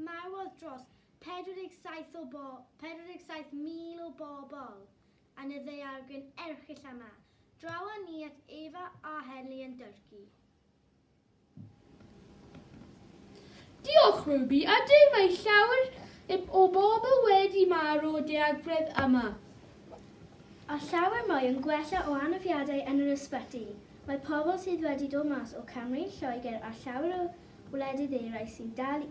Marwodd dros 47 o bo- 47,000 o bobl yn y ddaeargryn erchyll yma. Draw â ni at Eva a Henley yn Dyrci. Diolch, Ruby. Ydy, mae llawer o bobl wedi marw o daeargredd yma. A llawer mwy yn gwella o anafiadau yn yr ysbyty. Mae pobl sydd wedi dod mas o Cymru, Lloegr a llawer o Gwledydd eraill sy'n dal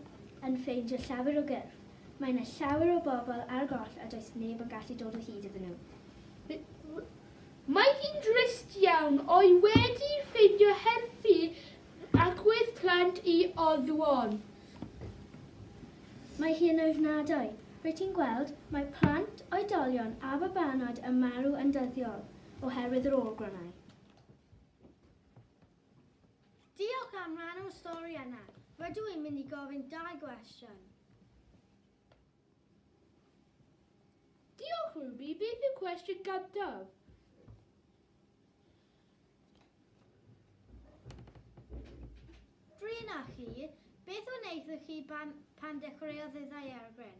yn ffeindio llawer o gyrff, mae yna llawer o bobl ar goll a does neb yn gallu dod o hyd iddyn nhw. Mae hi'n drist iawn, o'i wedi ffeindio helpu agwedd plant i Oddwn. Mae hi yn ofnadwy. Rwyt ti'n gweld, mae plant, oedolion a babanod yn marw yn dyddiol oherwydd yr ôl-gronau. Diolch am rannu'r stori yna. Rydw i'n mynd i gofyn dau gwestiwn. Diolch Ruby, beth yw cwestiwn gyntaf? Drin a chi, beth wnaethoch chi pan, pan dechreuodd y ddaeargryn?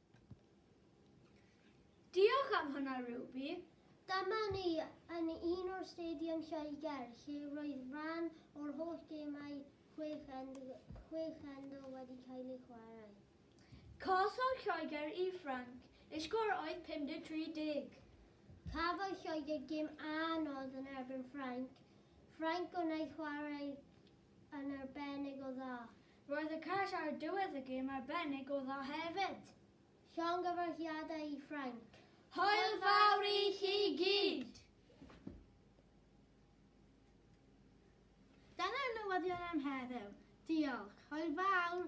Diolch am hwnna, Ruby. Dyma ni yn un o'r Stadium Lloegr lle roedd rhan o'r holl gemau chwech end, chwech endl wedi cael eu chwarae. Collodd Lloegr i Ffrainc, eu sgôr oedd 53-10. Cafodd Lloegr gêm anodd yn erbyn Ffrainc, Ffrainc wnaeth chwarae yn arbennig o dda. Roedd y cais ar y diwedd y gêm arbennig o dda hefyd. Llongyfarchiadau i Ffrainc. Hwyl fawr i chi gyd! Dyna'r newyddion am heddiw. Diolch. Hwyl fawr!